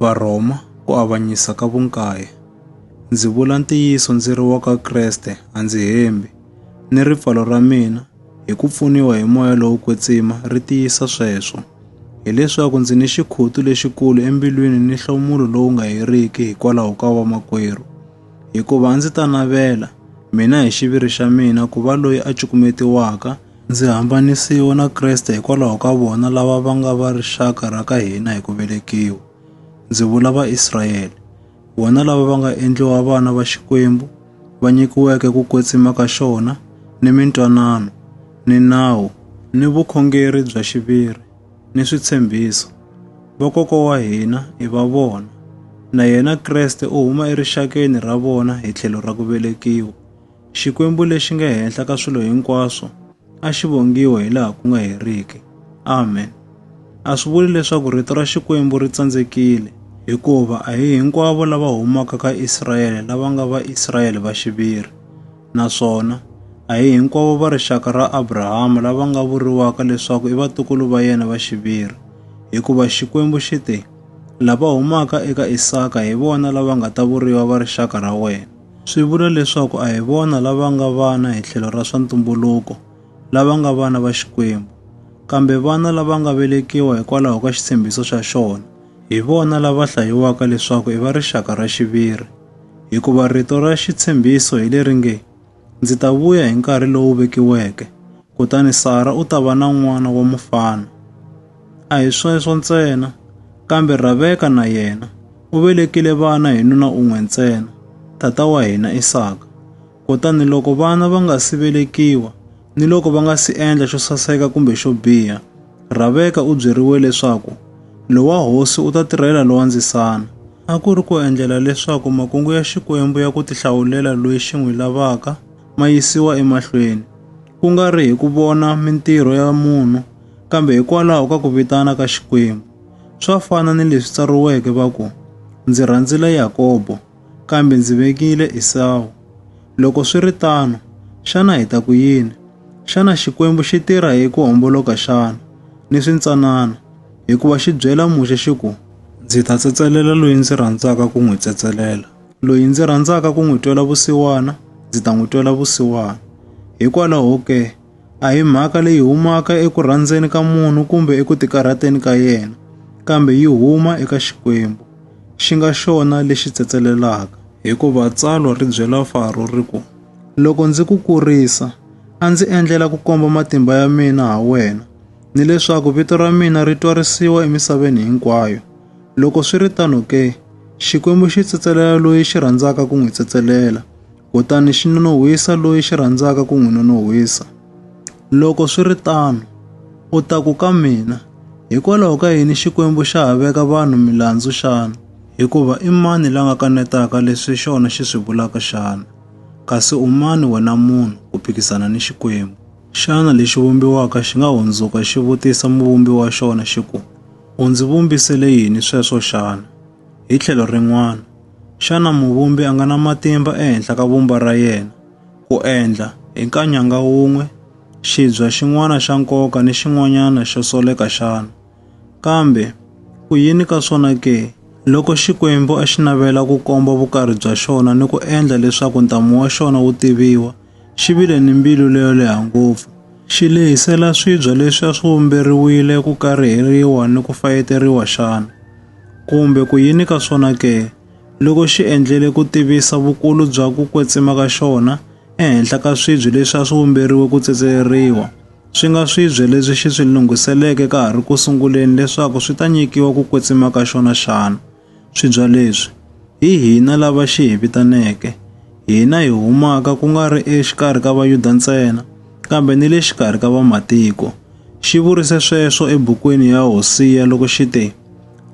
Varhoma ku avanyisa ka vunkaye. Ndzi vula ntiyiso ndzi ri wa ka Kreste a ndzi hembi, ni ripfalo ra mina hi ku pfuniwa hi moya lowo kwetsima ri tiyisa sweswo. Hileswaku ndzi ni xikhutu lexikulu embilwini ni nhlomulo lowu nga heriki hikwalaho ka vamakwerhu. Hikuva a ndzi ta navela, mina hi xiviri xa mina, ku va loyi a cukumetiwaka Ndzi hambanisiwe na Kreste hikwalaho ka vona lava va nga va rixaka ra ka hina hi ku velekiwa, ndzi vula Vaisrayele, vona lava va nga endliwa vana va Xikwembu, va nyikiweke ku kwetsima ka xona, ni mintwanano, ni nawu, ni vukhongeri bya xiviri, ni switshembiso. Vakokwa wa hina i va vona, na yena Kreste u huma erixakeni ra vona hi tlhelo ra ku velekiwa. Xikwembu lexi nge henhla ka swilo hinkwaswo a xi vongiwe hi laha ku nga heriki. Amen. A swi vuli leswaku rito ra Xikwembu ri tsandzekile, hikuva a hi hinkwavo lava humaka ka Israyele lava nga va Israyele va xiviri, naswona a hi hinkwavo va rixaka ra Abrahama lava nga vuriwaka leswaku i vatukulu va yena va xiviri, hikuva Xikwembu xi te, Lava humaka eka Isaka hi vona lava nga ta vuriwa va rixaka ra wena. swi vula leswaku a hi vona lava nga vana hi tlhelo ra swa ntumbuluko lava nga vana va Xikwembu, kambe vana lava nga velekiwa hikwalaho ka xitshembiso xa xona, hi vona lava hlayiwaka leswaku i va rixaka ra xiviri. Hikuva rito ra xitshembiso hi leri nge, Ndzi ta vuya hi nkarhi lowu vekiweke, kutani Sara u ta va na n'wana wa mufana. A hi sweswo ntsena, kambe Raveka na yena u velekile vana hi nuna un'we ntsena, tata wa hina Isaka. Kutani loko vana va nga si velekiwa ni loko va nga si endla xo saseka kumbe xo biha, Raveka u byeriwe leswaku lowa hosi u ta tirhela lowa ndzisana. A ku ri ku endlela leswaku makungu ya Xikwembu ya ku tihlawulela loyi xi n'wi lavaka ma yisiwa emahlweni. ku nga ri hi ku vona mintirho ya munhu, kambe hikwalaho ka ku vitana ka Xikwembu. Swa fana ni leswi tsariweke va ku, Ndzi rhandzile Yakobo, kambe ndzi vekile Esawu. Loko swi ri tano, xana hi ta ku yini? Xana Xikwembu xi tirha hi ku homboloka xana, ni swintsanana? Hikuva xi byela Muxe xi ku, Ndzi ta tsetselela loyi ndzi rhandzaka ku n'wi tsetselela. Loyi ndzi rhandzaka ku n'wi twela vusiwana, ndzi ta n'wi twela vusiwana. Hikwalaho ke, a hi mhaka leyi humaka eku rhandzeni ka munhu kumbe eku tikarhateni ka yena, kambe yi huma eka Xikwembu, xi nga xona lexi tsetselelaka. Hikuva tsalwa ri byela Faro ri ku, Loko ndzi ku kurisa, a ndzi endlela ku komba matimba ya mina ha wena, ni leswaku vito ra mina ri twarisiwa emisaveni hinkwayo. Loko swi ri tano ke, Xikwembu xi tsetselela loyi xi rhandzaka ku n'wi tsetselela, kutani xi nonohwisa loyi xi rhandzaka ku n'wi nonohwisa. Loko swi ri tano, u ta ku ka mina, Hikwalaho ka yini Xikwembu xa ha veka vanhu milandzu xana? Hikuva i mani la nga kanetaka leswi xona xi swi vulaka xana? Kasi u mani wena munhu ku phikizana ni Xikwembu? Xana lexi vumbiwaka xi nga hundzuka xi vutisa muvumbi wa xona xi ku, U ndzi vumbisele yini sweswo xana? Hi tlhelo rin'wana, xana muvumbi a nga na matimba ehenhla ka vumba ra yena ku endla hi nkanyanga wun'we xibya xin'wana xa nkoka ni xin'wanyana xo soleka xana? Kambe ku yini ka swona ke? Loko Xikwembu a xi navela ku komba vukarhi bya xona ni ku endla leswaku ntamu wa xona wu tiviwa, xi vile ni mbilu leyo leha ngopfu, xi lehisela swibya leswi a swi vumberiwile ku kariheriwa ni ku fayeteriwa xana? Kumbe ku yini ka swona ke, loko xi endlele ku tivisa vukulu bya ku kwetsima ka xona ehenhla ka swibya leswi a swi vumberiwe ku tsetseleriwa, swi nga swibya leswi xi swi lunghiseleke ka ha ri ku sunguleni leswaku swi ta nyikiwa ku kwetsima ka xona xana? Swibya leswi, hi hina lava xi hi vitaneke, hina hi humaka ku nga ri exikarhi ka Vayuda ntsena, kambe ni le xikarhi ka Vamatiko. Xi vurise sweswo ebukwini ya Hosiya loko xi te,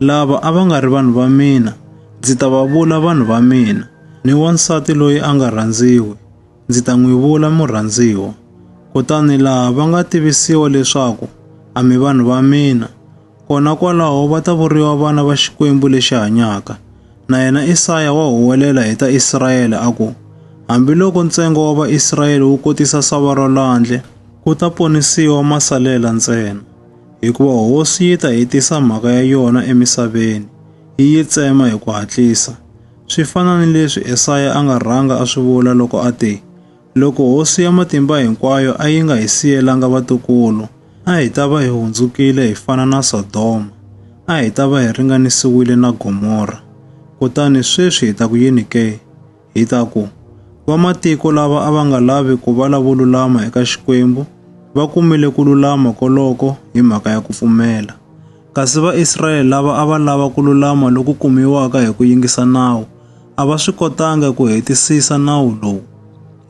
Lava a va nga ri vanhu va mina, ndzi ta va vula vanhu va mina, ni wansati loyi a nga rhandziwi, ndzi ta n'wi vula murhandziwa. Kutani laha va nga tivisiwa leswaku a mi vanhu va mina, Kona kwalaho va ta vuriwa vana va Xikwembu lexi hanyaka. Na yena Isaya wa huwelela hi ta Israyele a ku, Hambiloko ntsengo wa Vaisrayele wu kotisa sava ra lwandle, ku ta ponisiwa masalela ntsena, hikuva hosi yi ta hetisa mhaka ya yona emisaveni, yi yi tsema hi ku hatlisa. Swi fana ni leswi Esaya a nga rhanga a swi vula loko a te, Loko Hosi ya Matimba Hinkwayo a yi nga hi siyelanga vatukulu, a hi ta va hi hundzukile hi fana na Sodoma, a hi ta va hi ringanisiwile na Gomora. Kutani sweswi hi ta ku yini ke? Hi ta ku, Vamatiko lava a va nga lavi ku va lavo lulama eka Xikwembu va kumile ku lulama koloko hi mhaka ya ku pfumela. Kasi Vaisrayele lava a va lava ku lulama loku kumiwaka hi ku yingisa nawu a va swi kotanga ku hetisisa nawu lowu.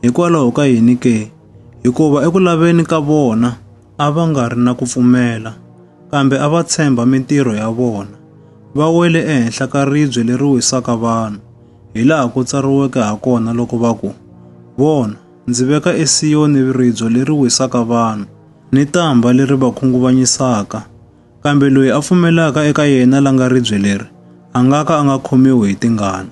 Hikwalaho ka yini ke? Hikuva eku laveni ka vona a va nga ri na ku pfumela, kambe a va tshemba mintirho ya vona. Va wele ehenhla ka ribye leri wisaka vanhu, hi laha ku tsariweke ha kona loko va ku, Vona, ndzi veka eSiyoni ribye leri wisaka vanhu, ni tamba leri va khunguvanyisaka, kambe loyi a pfumelaka eka yena la nga ribye leri a nga ka a nga khomiwi hi tingana.